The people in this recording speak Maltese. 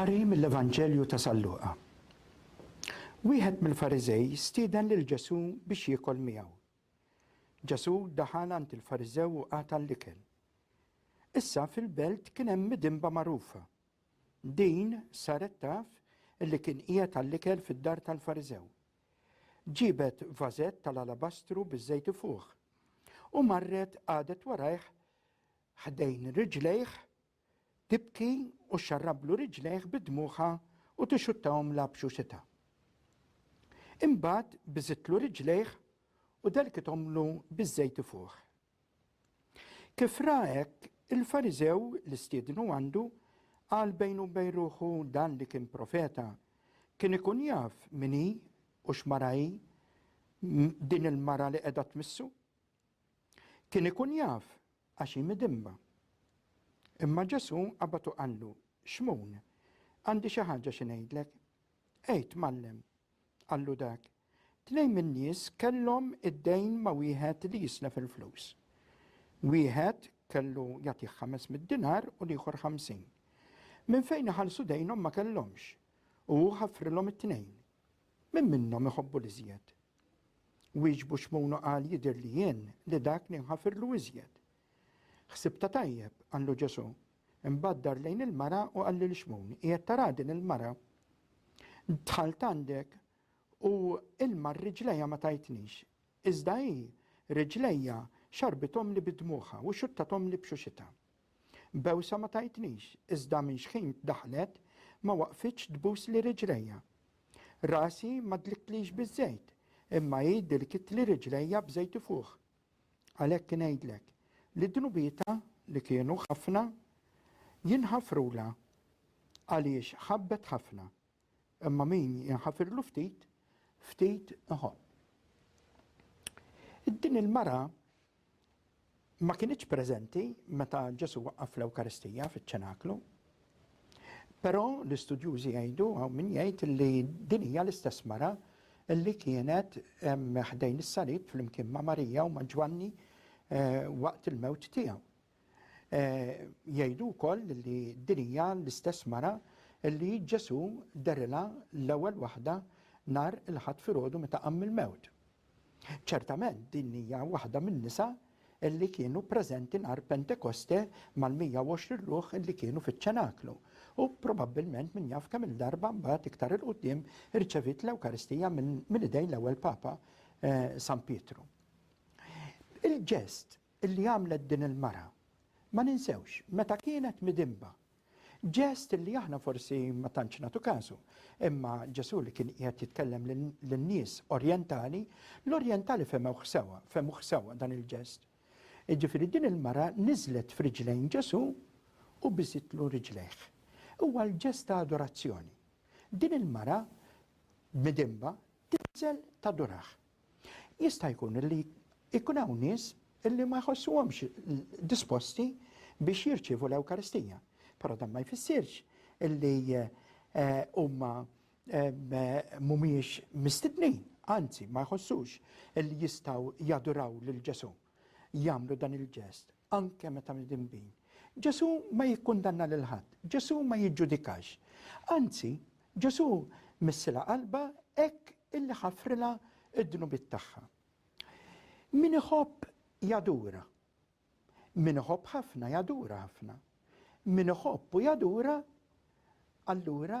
Qari mill-Evanġelju ta' San Luqa. Wieħed mill-Fariżej stieden lil Ġesù biex jiekol miegħu. Ġesù daħal għand il-Fariżew u qata' l-ikel. Issa fil-belt kien hemm midinba magħrufa Din saret taf li kien qiegħed għall-ikel fid-dar tal-Fariżew. Ġiebet vażett tal-alabastru biż-żejt ifuħ, u marret qagħdet warajh ħdejn riġlejh tibki u xxarrablu riġlejh bi dmugħha u tixxuttahomlha b'xuxitha. Imbagħad biżitlu riġlejh u delkithomlu biż-żejt ifuħ. Kif ra hekk, il-Fariżew li stiednu għandu, qal bejnu u bejn ruħu dan li kien profeta. Kien ikun jaf min hi u x'mara hi din il-mara li qiegħda tmissu. Kien ikun jaf għax hi midimba. Imma Ġesù qabad u qallu, Xmun, għandi xi ħaġa xi ngħidlek. Għid, Mgħallem, qallu dak. Tnejn min-nies kellhom id-dejn ma' wieħed li jislef il-flus. Wieħed kellu jagħtih ħames mitt dinar u l-ieħor ħamsin. Minn fejn iħallsu dejnhom ma kellhomx, u hu ħaffrilhom it-tnejn. Min minnhom iħobbu l-iżjed? Wieġbu Xmun u qal, Jidhirli jien li dak li nħafirlu iżjed. Ħsibtha tajjeb, qallu Ġesù, Imbagħad dar lejn il-mara u qal lil Xmun, Qiegħed taraha din il-mara? Dħalt għandek u ilma r-riġlejha ma tajtnix, iżda hi, riġlejha, xarrbithomli bi dmugħha u xuttathomli b'xuxitha. Bewsa ma tajtnix, iżda minn xħin daħlet ma waqfitx tbusli riġlejha. Rasi ma dliktlix biż-żejt, imma hi dlkitli riġlejha b'żejt ifuħ. Għalhekk ingħidlek li dnubietha, li kienu ħafna, jinħafrulha, għaliex ħabbet ħafna, imma min jinħafirlu ftit, ftit iħobb. Din il-mara ma kinitx preżenti meta Ġesu waqqaf l-Ewkaristija fiċ-ċenaklu, Però l-istudjużi jgħidu hawn min jgħid li din hija l-istess mara li kienet ħdejn is-salib flimkien ma' Marija u ma' Ġwanni eh, waqt il-mewt tiegħu. Eh, jgħidu wkoll li din hija l-istess mara li Ġesu derilha l-ewwel waħda nar il-ħadd filgħodu meta qamm il-mewt. Ċertament din hija waħda min-nisa li kienu preżenti nhar Pentekoste mal-120 ruħ li kienu fiċ-ċenaklu u probabbilment min jaf kemm-il darba mbagħad iktar 'il quddiem irċeviet l-Ewkaristija minn idejn l-ewwel Papa San Pietru. Il-ġest li għamlet din il-mara, ma ninsewx, meta kienet midinba. Ġest li aħna forsi ma tantx nagħtu kasu, imma Ġesù li kien qiegħed jitkellem lin-nies orjentali, l-orjentali fehmewh sewwa, fehmuh sewwa dan il-ġest. Jiġifieri din il-mara niżlet f'riġlejn Ġesù u biżitlu riġlejh. Huwa l-ġest ta' adorazzjoni. Din il-mara midinba tinżel tadurah. Jista' jkun li jkun hawn nies illi ma jħossuhomx disposti biex jirċievu l-Ewkaristija. Però dan ma jfissirx illi eh, huma eh, mhumiex mistednin, anzi ma jħossux illi jistgħu jaduraw lil Ġesu jagħmlu dan il-ġest. anke meta mdinbin. Ġesù ma jikkundanna lil ħadd, Ġesù ma jiġġudikax. Anzi, Ġesù missilha qalbha hekk illi ħafrilha d-dnubiet tagħha. Min iħobb jadura. Min iħobb ħafna jadura ħafna. Min iħobb u jadura allura